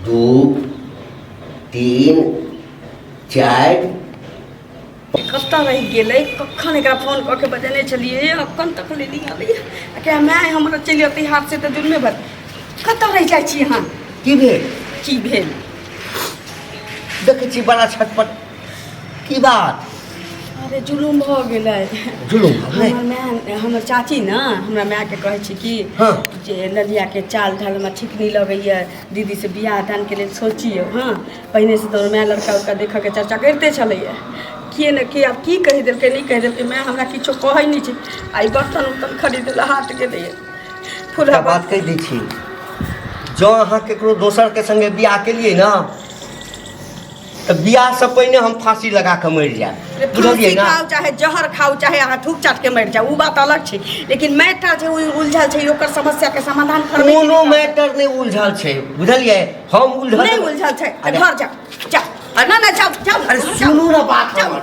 दू तीन चारि कतऽ रहि गेलै कखन एकरा फोन कऽ के बजेने छलियै अखन तक ले नहीं आबैए आ कहे माय हमरा चलि अतै हाथ से तऽ दुनमे भर कतऽ रहि जाइ छी अहाँ की भेल की भेल देखै छी बड़ा छटपट की बात अरे जुलूम भऽ गेलै जुलूम भऽ गेलै? हमर माय हमर चाची ने हमरा मायके कहै छै कि हँ। जे ललियाके चाल ढाल हमरा ठीक नहि लगैए दीदीसँ बियाह दानके लेल सोचियौ हँ पहिनेसँ तऽ हमर माय लड़का उड़का देखयके चर्चा करिते छलैए के ने के आब की कहि देलकै नहि कहि देलकै माय हमरा किछो कहै नहि छै आ ई बर्तन उर्तन खरीद लए हाट गेलैए एकटा फुला बात कहि दै छी जँ अहाँ ककरो दोसरके सङ्गे बियाह केलियै ने तऽ बियाहसँ पहिने हम फाँसी लगा कऽ मरि जायब बुझलियै फाँसी ने खाउ चाहे जहर खाउ चाहे अहाँ थूक चाट के मरि जाउ ओ बात अलग छै लेकिन मैटर जे उल- उलझल छै ओकर समस्या के समाधान करबै की कोनो नहि? मैटर नहि उलझल छै बुझलियै हम उलझल नहि उलझल छै तऽ अरे, घर जाउ जाउ अरे ना ना जाउ जाउ अरे जाउ। सुनू ना बात जाउ। हमर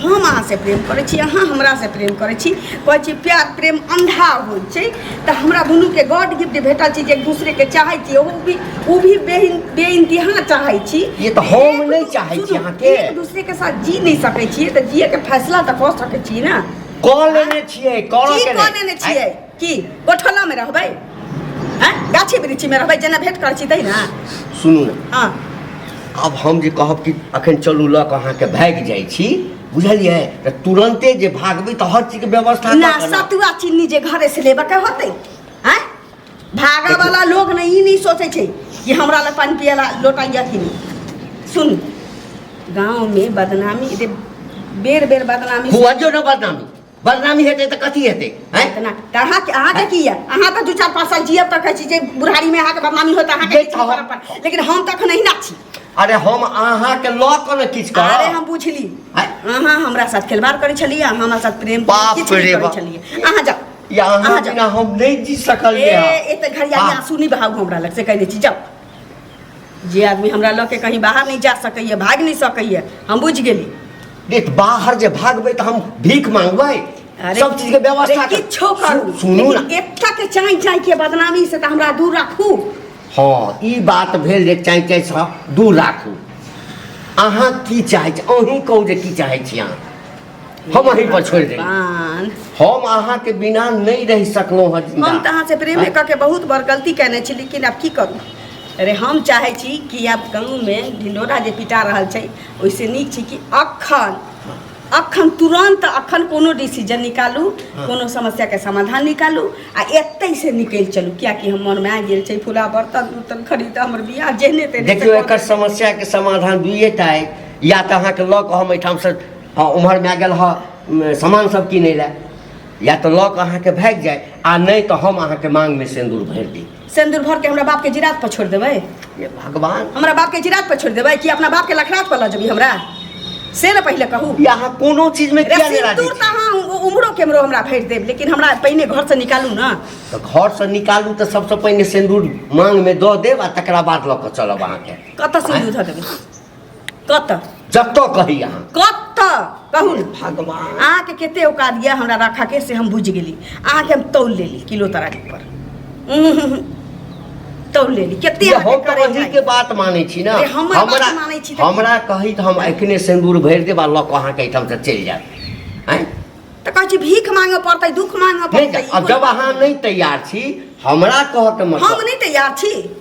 हम अहाँसँ प्रेम करै छी अहाँ हमरासँ प्रेम करै छी कहै छी प्यार प्रेम अन्धा होइ छै तऽ हमरा दुनूके गॉड गिफ्ट भेटल छी जे एक दूसरेके चाहै छी ओ भी ओ भी बे बेइंतहा चाहै छी ये तऽ हम नहि चाहै छी सुनू, अहाँके। एक दूसरेके साथ जी नहि सकै छियै तऽ जियैके फैसला तऽ कऽ सकै छी ने कऽ लेने छियै करऽ की के कऽ लेने छियै की गोठोला में रहबै हैं? गाछी वृक्षी में रहबै जेना भेंट कर छी तै ना सुनू ने हाँ अब हम जे कहब कि अखन चलू लऽ कऽ अहाँके भागि जाइ छी बुझलियै तऽ तुरन्ते जे भागबै तऽ हर चीजके व्यवस्था ना कऽ कऽ ने। सतुआ चीनी जे घरे से लेबऽ के होतै हैं भागा वाला लोग ने ई नहीं सोचे छै कि हमरा लग पानी पिए ला लोटा या कि नहीं सुन गांव में बदनामी दे बेर बेर बदनामी हुआ जो ना बदनामी बदनामी हेतै तऽ कथी हेतै हैं इतना तऽ अहाँ अहाँ के की यऽ अहाँ तऽ दू चार पाँच साल जियब तऽ कहै छी जे बुढ़ारी में अहाँ के बदनामी होता अहाँ के ये किछु कहब। करब पर। लेकिन हम तऽ अखन अहिना छी अरे हम अहाँ के लऽ कऽ ने किछु अरे करब हम बुझली हैं? अहाँ हमरा साथ खेलवाड़ करै छलियै अहाँ हमरा साथ प्रेम बाप किछु नहि रे करै बाप। छलियै अहाँ जाउ या अहाँ अहाँ जाउ बिना हम नहीं जी ए सकलियै ए तऽ घड़िया आह। आंसू नहि बहाउ हमरा लग से कहि दै छी जाउ जे आदमी हमरा लऽ के कहीं बाहर नहीं जा सकैए भागि नहीं सकैए हम बुझि गेली देख बाहर जे भागबै तऽ हम भीख मांगबै अरे, सब चीज के व्यवस्था अरे, कर- किछो करू सु- सुनू ना लेकिन एकटा के चाँइ चाँइ के बदनामी से तऽ हमरा दूर राखू हाँ ई बात भेल जे चाहे चाहे से दूर राखू अहाँ की चाहै छी अहीं कहू जे की चाहै छी अहाँ हम अहीं पर छोड़ दे भगवान हम अहाँ के बिना नहीं रह सकलो हँ हम जिंदा। तऽ अहाँसँ प्रेमे कऽ के बहुत बड़ गलती कयने छी लेकिन आब की करू अरे हम चाहै छी कि आब गाँवमे ढिंडोरा जे पिटा रहल छै ओहिसँ नीक छी कि अखन अखन तुरन्त अखन कोनो डिसीजन निकालू हँ। कोनो समस्याके समाधान निकालू आ एतहिसँ निकलि चलू किएकि हम मनमे आबि गेल छै फूला बर्तन उर्तन खरीद हमर बियाह जेहने तेहने देखियौ से कऽ एकर समस्या के समाधान दुइए टा अइ या तऽ अहाँके लऽ कऽ हम एहिठामसँ हँ ओम्हर माय गेल हँ सामान सब किनै लए या तऽ लऽ कऽ अहाँके भागि जाय आ नहि तऽ हम अहाँके मांगमे सिन्दूर भरि दी सिन्दूर भर के हमरा बाप के जिरात पर छोड़ देबै ये भगवान हमरा बाप के जिरात पर छोड़ देबै कि अपना बाप के लखरात पर लऽ जेबी हमरा से ने पहिले कहू ये अहाँ कोनो चीजमे किया नहि राजी सिन्दूर तऽ छी? अहाँ उ- उम्हरो केम्हरो हमरा भरि देब लेकिन हमरा पहिने घर से निकालू ने तऽ घरसँ निकालू तऽ सबसँ पहिने सिन्दूर मांगमे दऽ देब आ तकरा बाद लऽ कऽ चलब अहाँके कतऽ सिन्दूर धऽ देबै कतऽ जतऽ कही अहाँ कतऽ कहू ने भगवान अहाँके कते औकात यऽ हमरा राखऽ के से हम बुझि गेली अहाँके हम तौल लेली किलो तराक पर उम्म, तौल लेली कते ये अहाँके हम तऽ करे वही के जाइए। बात मानै छी ने अरे हमर बात हमरा मानै छी तऽ- हमरा कही तऽ हम एखने सिन्दूर भरि देब आ लऽ कऽ अहाँके एहिठाम से चलि जायब आँय तऽ कहै छी भीख मांगऽ पड़तै दुख मांगऽ नहि पड़तै जायब। ई आब कोन जब बात अहाँ भेलै? नहि तैयार छी हमरा कहऽके हम मतलब नहि तैयार छी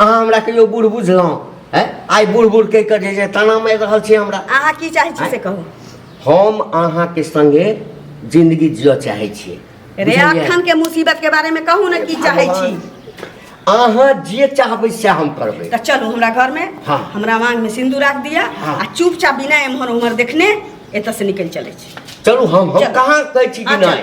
अहाँ हमरा कहियो बूढ़ बुझलहुँ हैं आइ बूढ़ बूढ़ कहि कऽ जे जे ताना मारि रहल छी हमरा अहाँ की चाहै छी से कहू हम अहाँके संगे जिंदगी जिय चाहै छियै रे बुझलियै? अखन के मुसीबत के बारे में कहू ने की चाहै छी अहाँ जे चाहबै से हम करबै तऽ चलू हमरा घर में हाँ। हमरा मांग में सिंदूर राख दिया हाँ। आ चुपचाप बिना एम्हर उम्हर देखने एतऽ से निकल चले छी चलू हम हम चलू। कहाँ कहै छी कि हाँ, नहि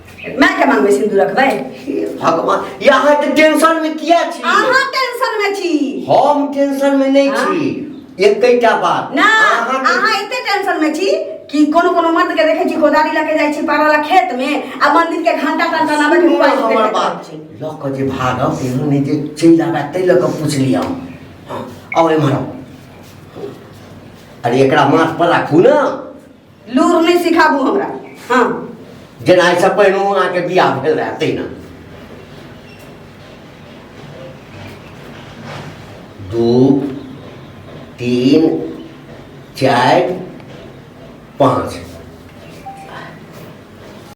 मैं के मांग में सिंदूर रखबै हे भगवान या अहाँ तऽ टेंशन में किया छी अहाँ टेंशन में छी हम टेंशन में नहीं हाँ। छी एकैटा बात ना अहाँ के- अहाँ एते टेंशन में छी कि कोनो कोनो मर्द के देखे छी कोदारी लके जाइ छी पारा ला खेत में आ मंदिर के घंटा घंटा नामे के सुनू मोबाइल हमर देखैत बात रहै छी लऽ कऽ जे भागब एहन नहि जे चलि आबए ताहि लऽ कऽ पुछली हम हँ, आउ एम्हर आउ। अरे एकरा माथ पर राखू ने लूर नहीं सिखाबू हमरा हाँ जेना एहिसँ पहिने अहाँके बियाह भेल रहए तहिना दू तीन चारि पाँच